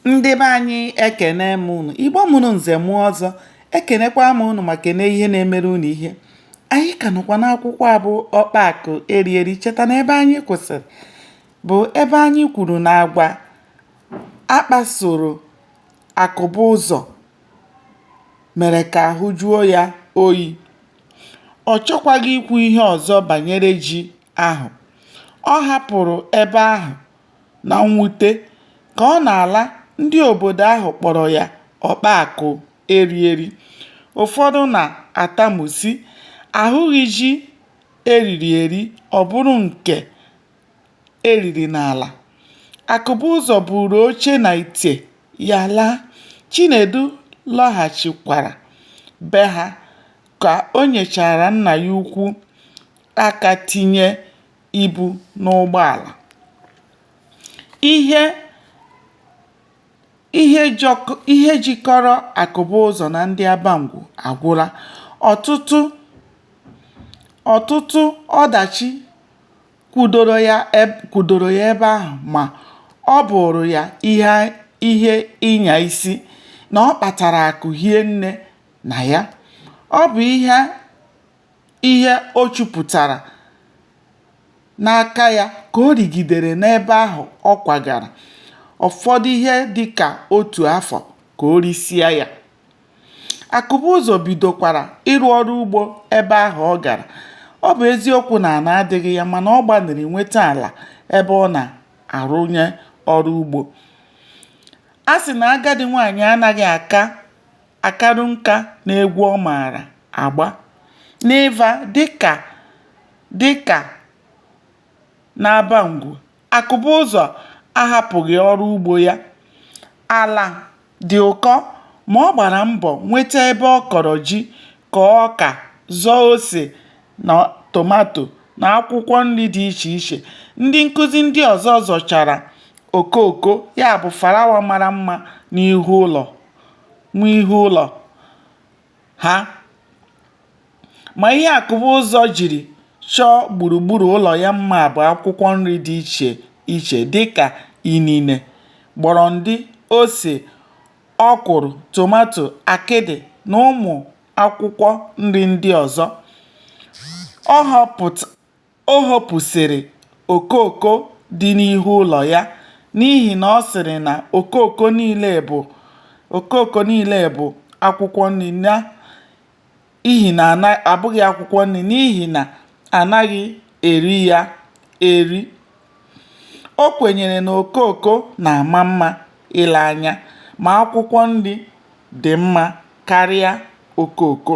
ndị be anyị ekene m unu igbo mụrụ nze mụọ ọzọ ekenekwa m unu ma kene ihe na-emere unu ihe anyị ka nọkwa n'akwụkwọ abụ ọkpa akụ eri eri cheta na ebe anyị kwụsịrị bụ ebe anyị kwuru na agwa akpasoro akụbụzọ mere ka ahụ jụọ ya oyi ọ chọkwaghị ikwu ihe ọzọ banyere ji ahụ ọ hapụrụ ebe ahụ Na mwute, ka ọ na-ala, ndị obodo ahụ kpọrọ ya ọkpa akụ eri eri. Ụfọdụ na-atamu, sị, A hụghị ji e riri eri, ọ bụrụ nke e riri n'ala. Akụbụzọ buuru oche na ite ya laa. Chinedu lọghachikwara be ha ka o nyechaara nna ya ukwu aka tinye ibu n'ụgbọàlà ihe ihe jikọrọ akụbụzọ nà ndị abangwu àgwụla ọ̀tụtụ ọ̀tụtụ ọdàchi kwudoro ya ebe ahụ̀ mà ọ bụ̀ụ̀rụ̀ ya ihe ịnyà isi nà ọ kpàtàrà àkụ̀ hie nne nà ya ọ bụ̀ ihe ihe o chupụtara n'aka ya ka o rigidere n'ebe ahụ ọ kwagara, ọ fọdụ ihe dị ka otu afọ ka o risịa ya. Akụbụzọ bidokwara ịrụ ọrụ ugbo ebe ahụ ọ gara. Ọ bụ eziokwu na ala adịghị ya mana ọ gbalịrị nweta ala ebe ọ na-arụnye ọrụ ugbo. A sị na agadi nwaanyị anaghị aka akarụ nka n'egwu ọ maara agba n'Ịva dịka dịka n'Abangwu, Akụbụzọ ahapụghị ọrụ ugbo ya. Ala dị ụkọ ma ọ gbara mbọ nweta ebe ọ kọrọ ji, kọọ ọka, zọọ ose na tomato na akwụkwọ nri dị iche iche. Ndị nkụzi ndị ọzọ zọchara okooko, ya bụ farawa mara mma n'ihu ụlọ. n'ihu ụlọ ha ma ihe akụbụzọ jiri chọọ gburugburu ụlọ ya mma bụ akwụkwọ nri dị iche iche dịka inine gbọrọndị ose ọkwụrụ tomato akịdị na ụmụ akwụkwọ nri ndị ọzọ O hopụsịrị okooko dị n'ihu ụlọ ya n'ihi na ọ sịrị na okooko okooko niile bụ akwụkwọ nri n'ihi na abụghị akwụkwọ nri n'ihi na anaghị eri ya eri. O kwenyere na okooko na-ama mma ile anya ma akwụkwọ nri dị mma karịa okooko.